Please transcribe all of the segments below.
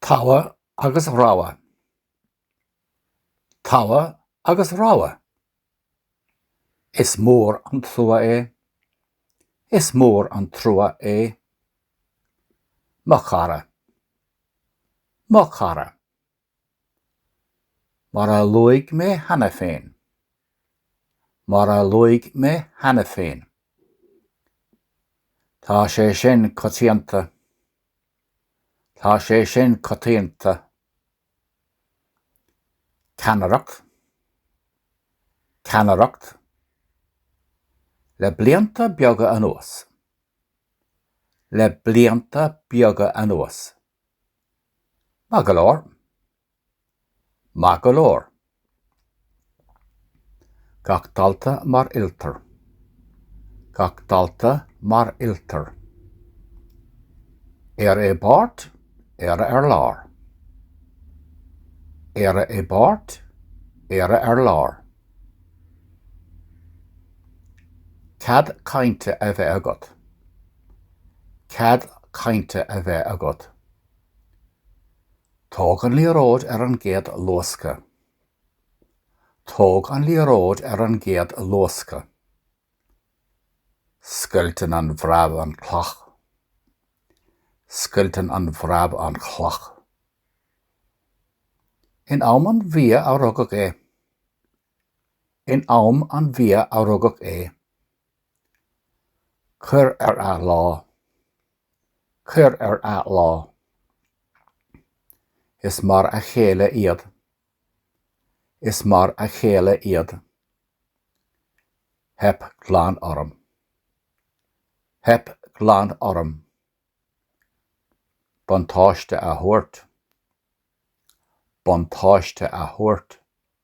Togha agus rogha. Togha agus rogha. Is mór an trua é. Is mór an trua é. Mo chara. Mo chara. Mar a luaigh mé cheana féin. Mar a luaigh mé cheana féin. Tá sé sin coitianta. Tá sé sin coitianta. Ceannaireacht. Ceannaireacht. Le blianta beaga anuas. Le blianta beaga anuas. Maith go leor. Maith go leor. Gach dalta mar oiltear. Gach dalta mar oiltear. Éire i bpáirt, Éire ar lár. Éire i bpáirt, Éire ar lár. Cead cainte a bheith agat. Cead cainte a bheith agat. Tóg an liathróid ar an gcéad luascadh. Tóg an liathróid ar an gcéad luascadh. Scoilteann an bhreab an chloch. Scoilteann an bhreab an chloch. In am an bhia a rugadh é. In am an bhia a rugadh é. Cuir ar athlá. Cuir ar athlá. Is mar a chéile iad. Is mar a chéile iad. Theip glan orm. Theip glan orm. Buntáiste a thabhairt. Buntáiste a thabhairt.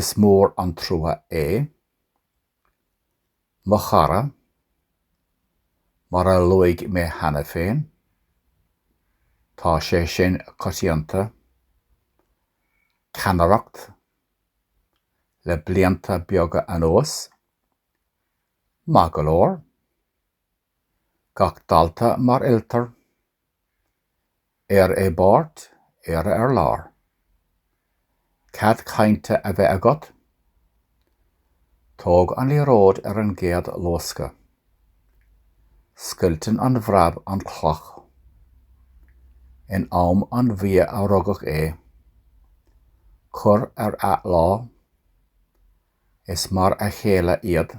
Is mór an trua é. Mo chara, mar a luaigh mé cheana féin, tá sé sin coitianta, ceannaireacht, le blianta beaga anuas. Maith go leor. Gach dalta mar oiltear. Éire i bpáirt, Éire ar lár. Cead cainte a bheith agat? Tóg an liathróid ar an gcéad luascadh. Scoilteann an bhreab an chloch. In am an bhia a rugadh é. Cur ar athlá. Is mar a chéile iad.